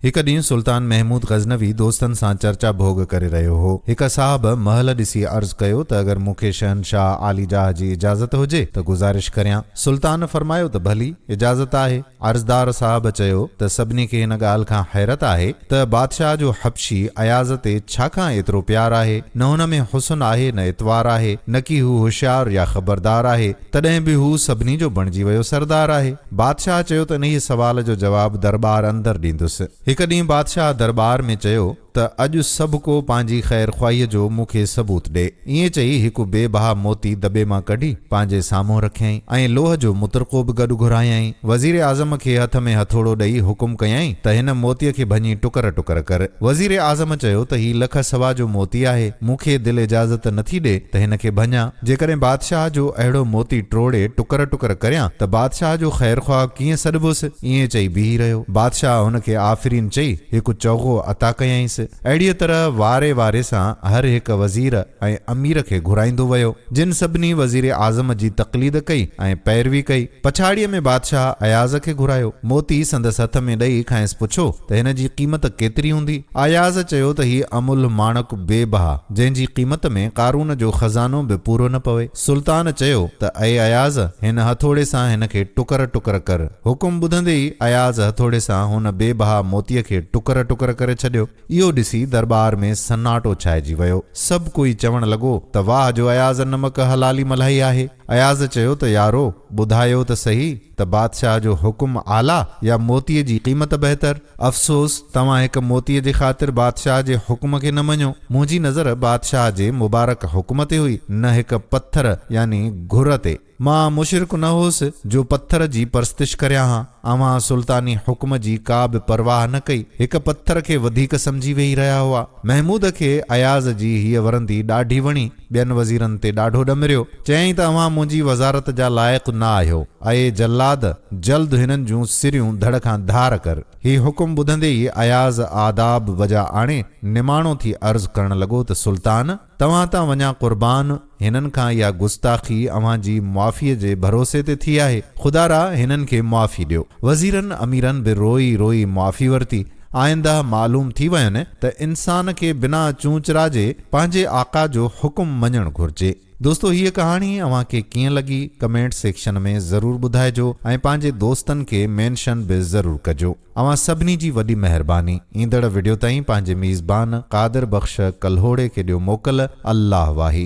هڪ ڏينهن سلطان محمود غزنوي دوستن سان چرچا ڀوڳ ڪري رهيو هو. هڪ صاحب محل ڏسي عرض ڪيو ته اگر مون کي شهنشاهه عالي جاهه جي اجازت هجي ته گذارش ڪريان. سلطان فرمايو ته ڀلي، اجازت آهي. عرضدار صاحب چيو ته سڀني کي هن ڳالهه کان حيرت آهي ته بادشاهه جو حبشي اياز تي ڇا کان ايترو پيار آهي. نه هن ۾ حسن آهي نه اطوار آهي، نڪي هو هوشيار يا خبردار آهي. تڏهن به هو سڀني جو بڻجي ويو سردار آهي. بادشاهه چيو ته انهيء سوال جو جواب درٻار اندر ڏيندس. هڪ ڏينهن بادشاهه درٻار ۾ چيو ته اڄ سڀ ڪو پنهنجي خير خواهيء جو مون کي ثبوت ڏي. ائين چئي هڪ بي بها موتي دٻي مان ڪڍي پنهنجي سامهون رکيائين ۽ لوهه جو مطرقو به گڏ گهرايائين. وزير اعظم کي هٿ ۾ هٿوڙو ڏئي حڪم ڪيائين ته هن موتيء کي ڀڃي ٽڪر ٽڪر ڪر. وزير اعظم چيو ته هي لک سوا جو موتي آهي، مون کي دل اجازت نٿي ڏي ته هن کي ڀڃان. جيڪڏهن بادشاهه جو اهڙو موتي ٽوڙي ٽڪر ٽڪر ڪريان ته بادشاهه جو خيرخواهه ڪيئن سڏبوس؟ ائين چئي بيهي رهيو. بادشاهه هن کي آفرين چئي هڪ چوغو عطا ڪيائينس. اهڙيء طرح واري واري سان هر هڪ وزير ۽ امير کي گهرائيندو ويو، جن سڀني وزير اعظم جي تقليد ڪئي ۽ پيروي ڪئي. پڇاڙيء ۾ بادشاهه اياز کي گهرايو. موتي سندس هٿ ۾ ڏئي کانئس پڇو ته هن جي قيمت ڪيتري هوندي؟ اياز چيو ته هيء املهه ماڻڪ بي بها، جنهن جي قيمت ۾ قارون جو خزانو به پورو نه پوي. سلطان چيو ته اي اياز! هن هٿوڙي سان هن کي ٽڪر ٽڪر ڪر. حڪم ٻڌندي ئي اياز هٿوڙي سان هن بي بها موتيء کي ٽڪر ٽڪر ڪري ڇڏيو. اهو ڏسي درٻار ۾ سناٽو ڇائجي ويو. سڀ ڪوئي چوڻ لڳو ته واهه جو اياز نمڪ حلالي ملهائي آهي. اياز چيو ته يارو! ٻڌايو ته سهي ته بادشاهه جو حڪم اعليٰ يا موتيء جي قيمت بهتر؟ افسوس! توهان هڪ موتيء جي خاطر بادشاهه جي حڪم کي نه مڃيو. منهنجي نظر بادشاهه جي مبارڪ حڪم تي هئي، نه هڪ پٿر يعني گهر تي. مان مشرڪ نه هوس جو پٿر جي پرستش ڪريان ها. اوهان سلطاني حڪم جي ڪا به پرواهه نه ڪئي، هڪ پٿر کي وڌيڪ سمجهي ويهي رهيا هئا. محمود کي اياز جي هيء ورندي ڏاڍي وڻي. ٻين وزيرن تي ڏاڍو ڏمريو، چيائين ته اوهان منهنجي وزارت جا لائق نه آهيو، اي جلاد! جلد هنن جون سريون ڌڙ کان ڌار ڪر. هي حڪم ٻڌندي ئي اياز آداب بجا آڻي نماڻو ٿي عرض ڪرڻ لڳو ته سلطان! توهان تان وڃان قربان، هنن کان اها گستاخي اوهان جي معافيء جي ڀروسي تي ٿي آهي، خدارا هنن کي معافي ڏيو. وزيرن اميرن به روئي روئي معافي ورتي. آئنده معلوم ٿي وين ته انسان کي بنا چونچ راجي پنهنجي آقا جو حڪم مڃڻ گهرجي. دوستو هيء ڪهاڻي اوهان کي ڪيئن لڳي ڪمينٽ سيڪشن ۾ ضرور ٻڌائجو ۽ پنهنجي دوستن کي مينشن به ضرور ڪجو. اوهان سڀني جي وڏي مهرباني. ايندڙ وڊيو تائين پنهنجي ميزبان قادر بخش ڪلهوڙي کي ڏيو موڪل. الله واهي.